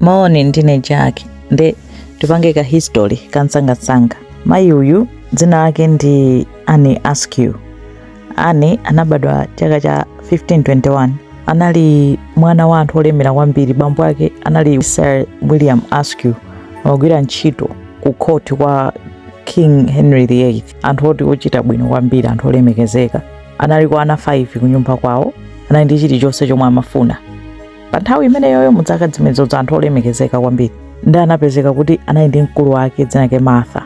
Moni, ndine Jack. Nde tipange ka history kamsangamsanga. Mayi uyu dzina lake ndi Anne Askew. Anne anabadwa chaka cha 1521. Anali mwana wa anthu olemera kwambiri. Bambo ake anali Sir William Askew, amagwira ntchito ku court kwa King Henry VIII. Anthu oti ochita bwino kwambiri, anthu olemekezeka. Anali kwa ana 5 kunyumba kwawo. Anali ndi chilichonse chomwe amafuna. pa nthawi imeneyoyo mu dzaka zimenezozo anthu olemekezeka kwambiri nde anapezeka kuti anali ndi mkulu wake dzina lake martha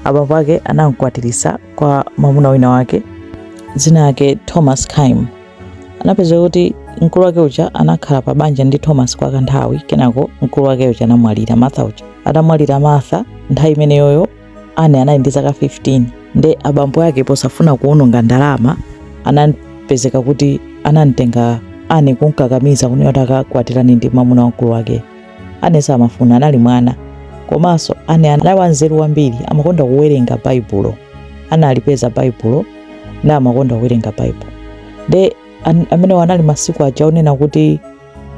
abambo ake anamkwatirisa kwa mwamuna wina wake dzina lake thomas kyme anapezeka kuti mkulu wake uja anakhala pa banja ndi thomas kwa kanthawi kenako mkulu wake uja anamwalira martha uja atamwalira martha nthawi imeneyoyo Anne anali ndi zaka 15 nde abambo ake posafuna kuwononga ndalama anapezeka kuti anamtenga Anne kumkakamiza kunena kuti akakwatirane ndi mwamuna wa mkulu wake. Anne samafuna, anali mwana. Komanso Anne anali wanzeru kwambiri, amakonda kuwerenga Baibulo. Analipeza Baibulo na amakonda kuwerenga Baibulo. Nde an- amenewo anali masiku aja onena kuti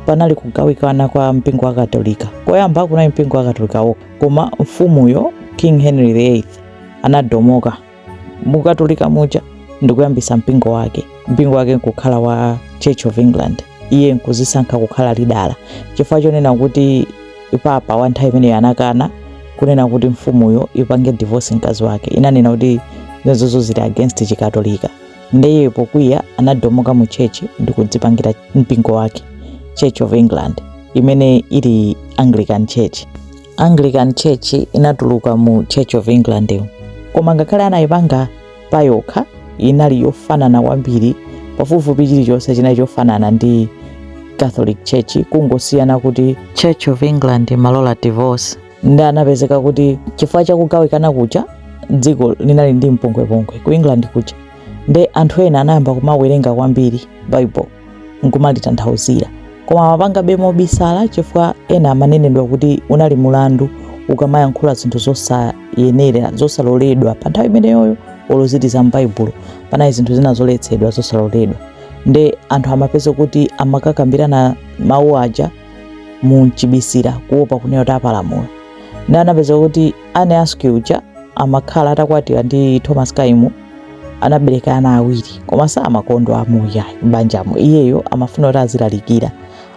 panali kugawikana kwa mpingo wa katolika koyamba kunali mpingo wa katolika wokha koma mfumuyo king henry viii anatomoka mukatolika muja ndikuyambisa mpingo wake mpingo wake nkukhala wa church of england iye nkuzisankha kukhala lidala chifukwa chonena kuti papa wa nthawi imeneyo anakana kunena kuti mfumuyo ipange divorce mkazi wake inanena kuti zimenezozo zili against chikatolika Nde iyeyo pokwiya anatomoka mu church ndi kudzipangira mpingo wake, Church of England, imene ili Anglican Church. Anglican Church inatuluka mu Church of England yo. Koma ngakhale anayipanga payokha inali yofanana kwambiri pafupifupi chilichonse chinali chofanana ndi Catholic Church kungosiyana kuti Church of England imalola divorce nde anapezeka kuti chifukwa cha kugawikana kuja dziko linali ndi mpungwepungwe ku england kuja nde anthu ena anayamba kumawerenga kwambiri bible nkumalitanthauzira koma amapangabe mobisala chifukwa ena amanenedwa kuti unali mulandu ukamayankhula zinthu zosayenera zosaloledwa pa nthawi imeneyoyo olo zili za m'baibulo panali zinthu zina zoletsedwa zosaloledwa nde anthu amapezeka kuti amakakambirana mawu aja mumchibisira kuopa kunena kuti apalamula nde anapezeka kuti anne askew uja amakhala atakwatira ndi thomas kyme anabereka ana awiri koma samakondwa umu ya m'banjamo iyeyo amafuna kuti azilalikira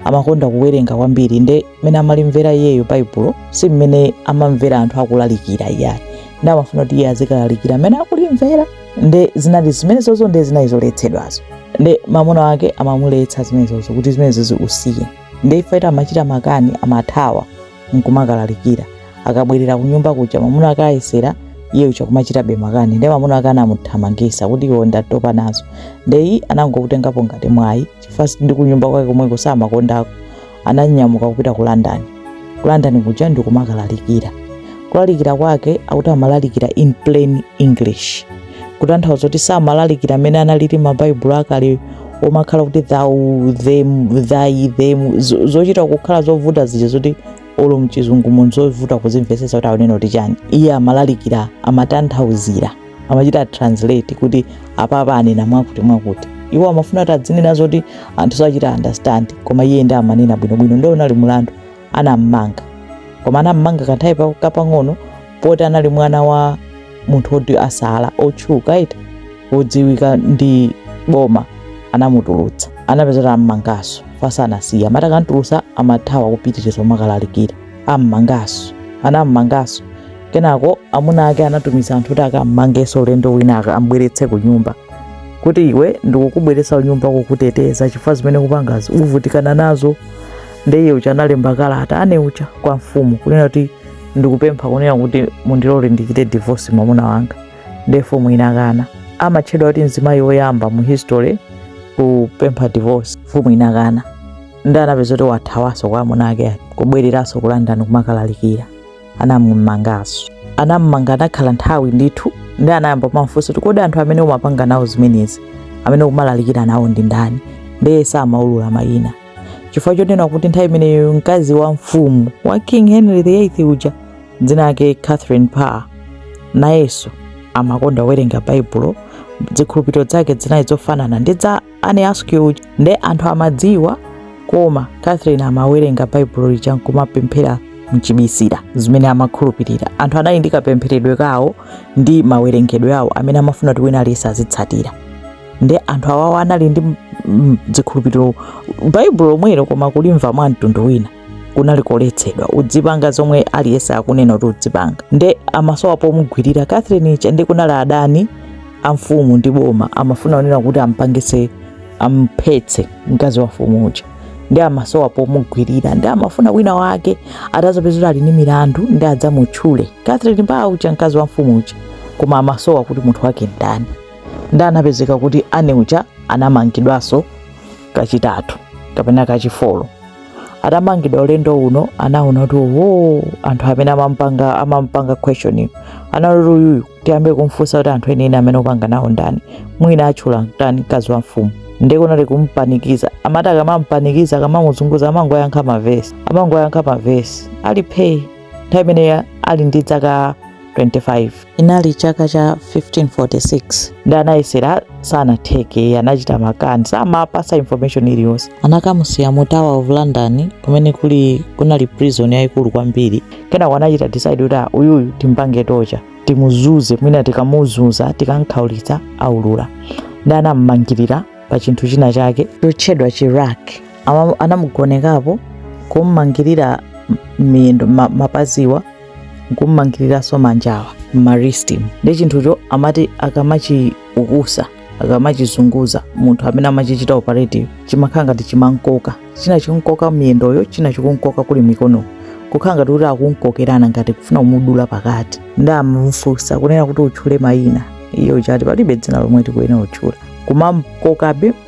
amakonda kuwerenga kwambiri nde mmene amalimvera iyeyo baibulo si mmene amamvera anthu akulalikira iyayi nde amafuna kuti iye azikalalikira mmene akulimvera nde zinali zimenezozo nde zinali zoletsedwazo nde mamuna wake amamuletsa zimenezozo kuti zimenezozi usiye nde iye amachita makani amathawa nkumakalalikira akabwerera kunyumba kuja mamuna wake ayesera iye uja kumachitabe makani nde mamuna wake anamuthamangisa kuti iwe ndatopa nazo nde iye anangokutengapo ngati mwayi chifukwa ndi kunyumba kwake komweko samakondako ananyamuka kupita ku london ku london kuja ndikumakalalikira kulalikira kwake akuti amalalikira in plain english kutanthauza kuti samalalikira amene analili mabaibulo akale omakhala kuti thou them thy them zo- zochita kukhala zovuta zija zoti olo mchizungumo ndi zovuta kuzimvetsetsa kuti akunena kuti chani iye amalalikira amatanthauzira amachita translate kuti apapa anena mwakuti mwakuti iwo amafuna kuti adzinena zoti anthu sachita understand koma iye ndi amanena bwinobwino ndiye unali mlandu anammanga koma anammanga kanthawi pa- kapang'ono poti anali mwana wa munthu woti asala otchuka ita wodziwika ndi boma anamutulutsa anapeza kuti ammangaso koma sanasiye amati akamtulutsa amathawa kupitiriza kumakalalikira ammanganso anammanganso kenako amuna ake anatumiza anthu kuti akammangenso ulendo wina aka- ambweretse ku nyumba kuti iwe ndikukubweretsa kunyumba kukuteteza chifukwa zimene ukupangazi uvutika nazo nde iye uja analemba kalata anne uja kwa mfumu kunena kuti ndikupempha kunena kuti mundilole ndichite divorce mwamuna wanga nde mfumu inakana amatchedwa kuti mzimayi woyamba mu history kupempha divorce mfumu inakana nde anapeza kuti wathawanso kwa amuna ake aja kubwereranso ku london kumakalalikira anamumanganso anammanga anakhala nthawi ndithu ndi anayamba kumamfunsa kuti kodi anthu amene umapanga nawo zimenezi amene umalalikira nawo ndi ndani ndiye samaulula mayina chifukwa chonena kuti nthawi imeneyo mkazi wa mfumu wa king henry viii uja dzina lake catherine parr nayenso amakonda kuwerenga baibulo zikhulupiriro zake zinali zofanana ndi za anne askew nde anthu amadziwa koma catherine amawerenga baibulo lija nkumapemphera mchibisira zimene amakhulupirira anthu anali ndi kapempheredwe kawo ndi mawerengedwe awo amene amafuna kuti wina aliyense azitsatira nde anthu awawo anali ndi mm, zikhulupiriro baibulo lomwelo koma kulimva mwa mtundu wina kunali koletsedwa udzipanga zomwe aliyense akunena kuti udzipanga nde amasowa pomugwirira catherine uja ndi kunali adani a mfumu ndi boma amafuna kunena kuti ampangise amphetse mkazi wa mfumu uja ndi amasowa pomugwirira ndi amafuna wina wake atazapeza kuti ali ndi milandu ndi adzamutchule catherine parr uja mkazi wa mfumu uja koma amasowa kuti munthu wake ndani ndi anapezeka kuti anne uja anamangidwanso kachitatu kapena kachifolo atamangidwa ulendo uno anaona kuti oho anthu amene amampanga amampanga questioning analoti uyuyu tiyambe kumfunsa kuti anthu enieni amene opanga nawo ndani mwina atchula ndani mkazi wa mfumu ndiye kunali kumpanikiza amati akamampanikiza akamamuzunguza amangoyankha mavesi amangoyankha mavesi ali phee nthawi imeneyo ali ndi dzaka 25 inali chaka cha 1546 ndi anayesera sanatheke anachita makani samapasa information iliyonse anakamusiya mu tower of london kumene kuli kunali prison yayikulu kwambiri kenako anachita decide kuti "Ah, uyuyu timpange torture timuzunze mwina tikamuzunza tikamkhaulitsa aulula ndi anam'mangirira pa chinthu china chake chotchedwa chi rack Ama- anamugonekapo kummangirira miyendo ma- mapaziwa nkummangiriranso manjawa m'ma wristimu ndi chinthucho amati akamachiukusa akamachizunguza munthu amene amachichita operate yo chimakhala ngati chimankoka china chikunkoka miyendoyo china chikunkoka kuli mikono kukhala ngati kuti akunkokerana ngati kufuna kumudula pakati ndi amamufunsa kunena kuti utchule mayina iyo chati palibe dzina lomwe ndikuyenera kutchula kumamkokabe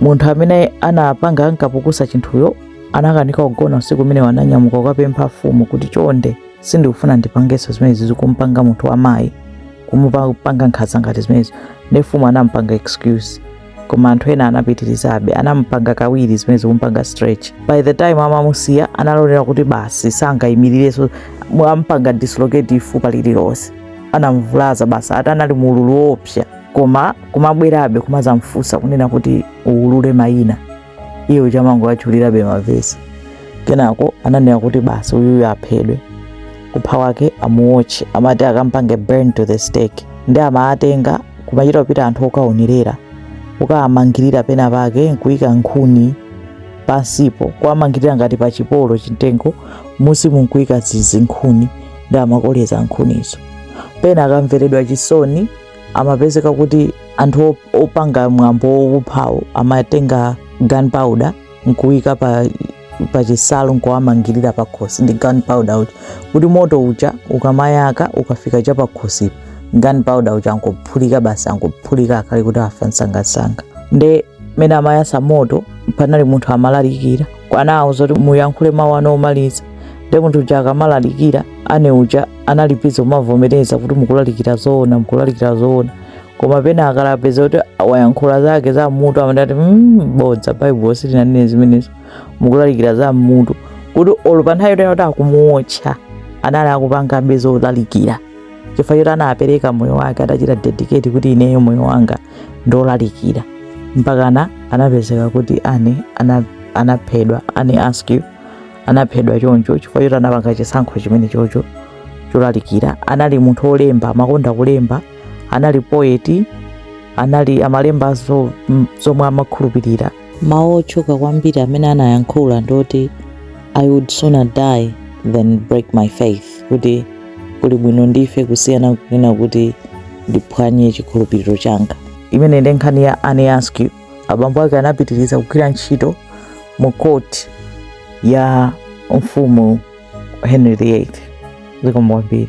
munthu amene anapanga ankapukusa chinthuyo anakanika kugona usiku umenewo ananyamuka kukapempha mfumu kuti chonde sindikufuna ndipangenso zimenezi kumpanga munthu wamayi kumupanga nkhanza ngati zimenezo ndi mfumu anampanga excuse koma anthu ena anapitirizabe anampanga kawiri zimenezi kumpanga stretch by the time amamusiya analolera kuti basi sangayimirirenso ampanga dislocate fupa lililonse anamvulaza basi ati anali mu ululu woopsa koma kumabwerabe kumazamfunsa kunena kuti uwulule mayina iye amangowatchulirabe mavesi kenako ananena kuti basi uyuyu aphedwe kupha kwake amuwotche amati akampange burn to the stake ndi amaatenga kumachita kupita anthu okaonerera kukaamangirira pena pake nkuyika nkhuni pansipo kuamangirira ngati pa chipolo chimtengo munsimu nkuyika zi- zinkhuni ndi amakoleza nkhunizo pena akamveredwa chisoni amapezeka kuti anthu op- opanga mwambo wokuphawo amatenga gunpowder nkuyika pa pachinsalu nkuwamangirira pakhosi ndi gunpowder uja kuti moto uja ukamayaka ukafika cha pakhosipo gunpowder uja angophulika basi angophulika akhale kuti afa msangamsanga nde mene amayasa moto panali munthu amalalikira anawauza kuti muyankhule mawu anu omaliza nde munthu uja akamalalikira Anne uja anali busy kumavomereza kuti mukulalikira zoona mukulalikira zoona koma pena akapeza kuti wayankhula zake za mmutu amati ati "Mm, bodza baibulo silinanene zimenezo mukulalikira za mmutu kuti olo pa nthawi yonena kuti akumuwotcha anali akupangabe zolalikira chifukwa choti anapereka moyo wake atachita dedicate kuti ineyo moyo wanga ndi olalikira mpakana anapezeka kuti Anne ana- anaphedwa Anne Askew anaphedwa choncho chifukwa choti anapanga chisankho chimene chocho cholalikira anali munthu wolemba amakonda kulemba anali poet anali amalemba zo- m- zomwe amakhulupirira Mawu otchuka kwambiri amene anayankhula ndi oti I would sooner die than break my faith, kuti kuli bwino ndife kusiyana kunena kuti ndiphwanye chikhulupiriro changa. Imene ndi nkhani ya Anne Askew. Abambo ake anapitiriza kugwira ntchito mu court ya mfumu Henry VIII. Zikomo kwambiri.